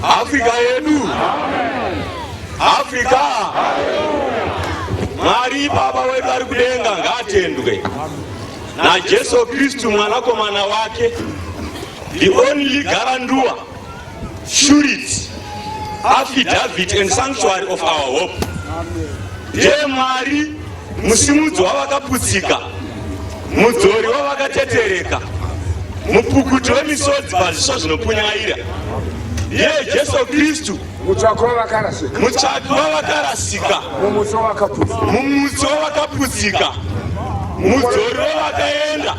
Afrika yedu, Afrika Mwari Baba wedu ari kudenga ngaatendwe na Jesu Kristu mwanakomana wake the only garanduwa shurits affidavit and sanctuary of our hope ndiye mwari musimudzi wavakaputsika mudzori wavakatetereka mupukuti wemisodzi pazviso zvinopunyaira ndiye jesu kristu mutsvaki wavakarasika mumutso wavakaputsika mudzori wavakaenda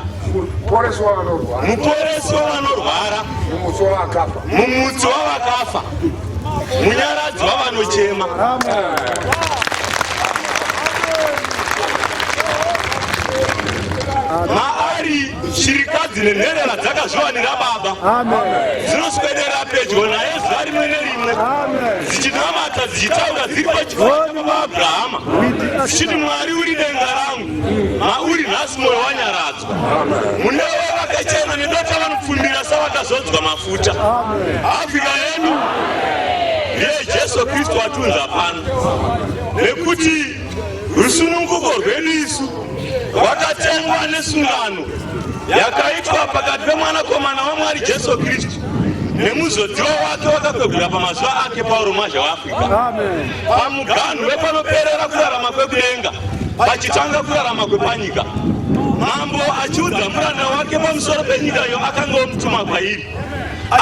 Muporesi wavanorwara. Muporesi wavanorwara. Mumutsi wavakafa. Mumutsi wavakafa. Munyaradzi wavanochema. Maari shirikadzi nenherera dzakazviwanira baba. Dzinoswedera pedyo naye zuva rimwe nerimwe. Dzichinamata dzichitaura dziri pachifo chaBaba Abrahama. Dzichiti Mwari uri denga rangu. mauri nhasi moyo wanyaradzwa mune vakachena nendota vanopfumbira savakazodzwa mafuta afrika yedu yejesu kristu watunza pano nekuti rusununguko rwedu isu rwakatengwa nesungano yakaitwa pakati pemwanakomana wamwari jesu kristu nemuzodziwa wake wakakwegura pamazuva ake pauro mazha wafa pamuganhu wepanoperera kurarama kwekudenga pachitanga kurarama kwepanyika mambo achiudza muranda wake pamusoro penyika iyo akanga omutuma kwairi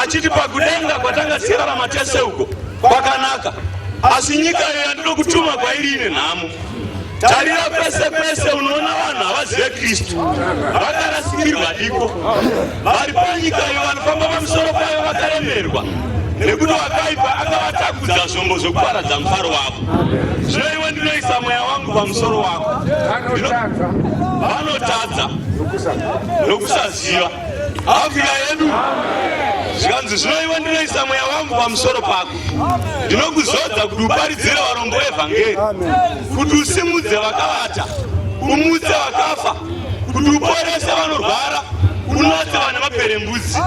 achiti pakudenga kwatanga tichirarama tese uko kwakanaka asi nyika iyo yandinokutuma kwairi ine nhamo Tarira kwese kwese unoona vanhu havazive Kristu, vakarasikirwa diko, vari panyika iyo vanofamba pamusoro payo vakaremerwa nekuti wakaipa akavatakudza zvombo zvokuparadza mufaro wavo. Zvino iwe ndinoisa mweya wangu pamusoro wako, vanotadza nokusaziva afika yedu zvikanzi zvino iwe ndinoisa mweya wangu pamusoro pako ndinokuzodza kuti uparidzire varombo evhangeri kuti usimudze vakavata umutse vakafa kuti uporese vanorwara unatse vane maperembudzi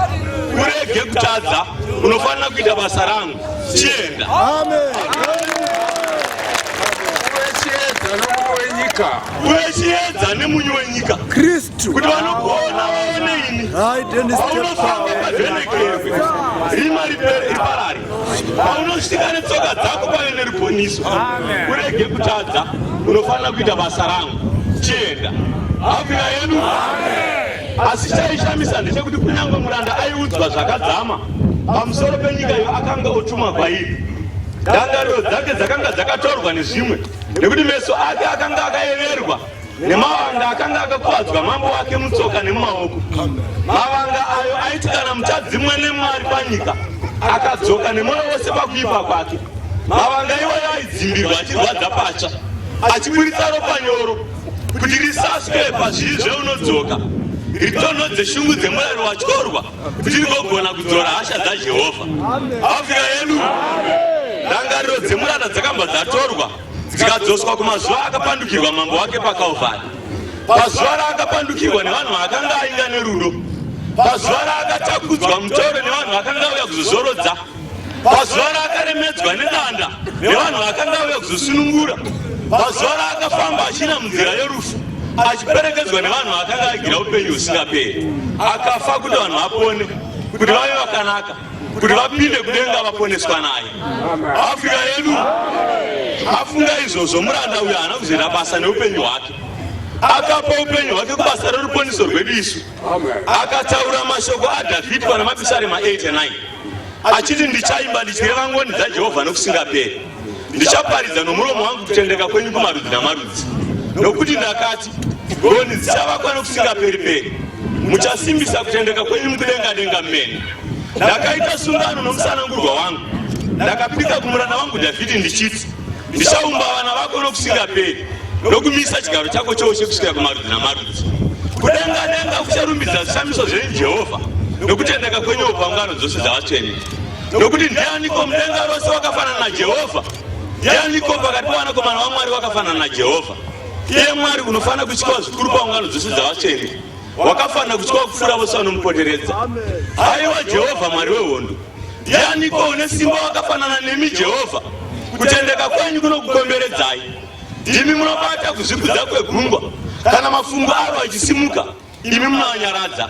urege kutadza unofanira kuita basa rangu chienda uve chiedza nemunyu wenyika kuti vanokuona vaone ini aunosaaaenekefe imari iparari paunosvika netsoka dzako pave neruponiso urege kutadza unofanira kuita basa rangu chienda afira yedu asi chaishamisa ndechekuti kunyange muranda aiudzwa zvakadzama pamusoro penyika iyo akanga otuma kwairi ndangariro dzake dzakanga dzakatorwa nezvimwe nekuti meso ake akanga akayeverwa nemavanga akanga akakuvadzwa mambo wake mutsoka nemumaoko mavanga ayo aiti kana muchadzimwe nemwari panyika akadzoka nemwoyo wose pakuipa kwake mavanga iwayo aidzimbirwa achirwadza patsva achiburitsa ropa nyoro kuti risaswe pazviri zveunodzoka ritonhodze shungu dzemurari watyorwa kuti rigogona kudzora hasha dzajehovha afika yedu ndangariro dzemurara dzakamba dzatorwa dzikadzoswa kumazuva akapandukirwa mambo wake pakalvari pazuva raakapandukirwa nevanhu vaakanga ainga nerudo pazuva raakatakudzwa mutoro nevanhu vakanga uya kuzozorodza pazuva raakaremedzwa nedanda nevanhu vakanga uya kuzosunungura pazuva raakafamba achina munzira yerufu achiperekedzwa nevanhu vakanga agira upenyu husingaperi akafa kuti vanhu vapone kuti vave vakanaka kuti vapinde kudenga vaponeswa naye afrika yedu afunga izvozvo muranda uyo haana kuzoita basa neupenyu hwake akapa upenyu hwake kubasa reruponiso rwedu isu akataura mashoko adhavhidhi pana mapisarema 89 achiti ndichaimba ndichireva ngoni dzajehovha nokusingaperi ndichaparidza nomuromo wangu kutendeka kwenyu kumarudzi namarudzi nokuti ndakati ngoni dzichavakwa nokusingaperi peri muchasimbisa kutendeka kwenyu mukudenga denga mene ndakaita sungano nomusanangurwa wangu ndakapika kumurana wangu dhavhidhi ndichiti ndichaumba vana vako nokusingaperi nokumisa chigaro chako choushe kusvika kumarudzi namarudzi kudenga denga kucharumbidza zvishamiso zvenyu jehovha nokutendeka kwenyu paungano dzose dzavatsvene Nokuti ndianiko mudenga rose wakafanana naJehovha? Ndianiko pakati pavanakomana vaMwari vakafanana naJehovha? Iye Mwari unofanira kutyiwa zvikuru paungano dzose dzavatsvene, wakafanira kutyiwa kupfuura vose vanomupoteredza. Haiwa Jehovha Mwari wehondo, ndianiko une simba wakafanana nemi Jehovha? Kutendeka kwenyu kunokukomberedzai. Ndimi munobata kuzvikudza kwegungwa, kana mafungu aro achisimuka. imi munanyaradza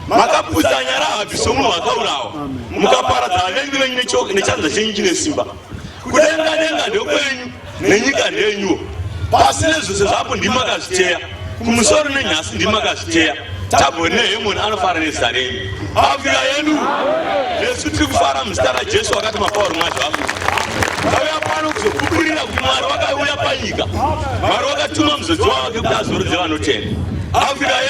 makapusa nyara hapi somunhu wakaurawa mukaparadza vavengi venyu nechanza chenyu chine simba kudenga denga ndokwenyu nenyika ndenyuwo pasi nezvose zvapo ndimi makazviteya kumusoro nenyasi ndimi makazviteya tabhori nehemoni anofara nezita renyu Afya yenu nesu tiri kufara muzita raJesu wakati mapawa rumwazi vafu vauya pano kuzokuburira kuti Mwari wakauya panyika Mwari wakatuma muzodzi wavo kuti azorodze vanotenda Afya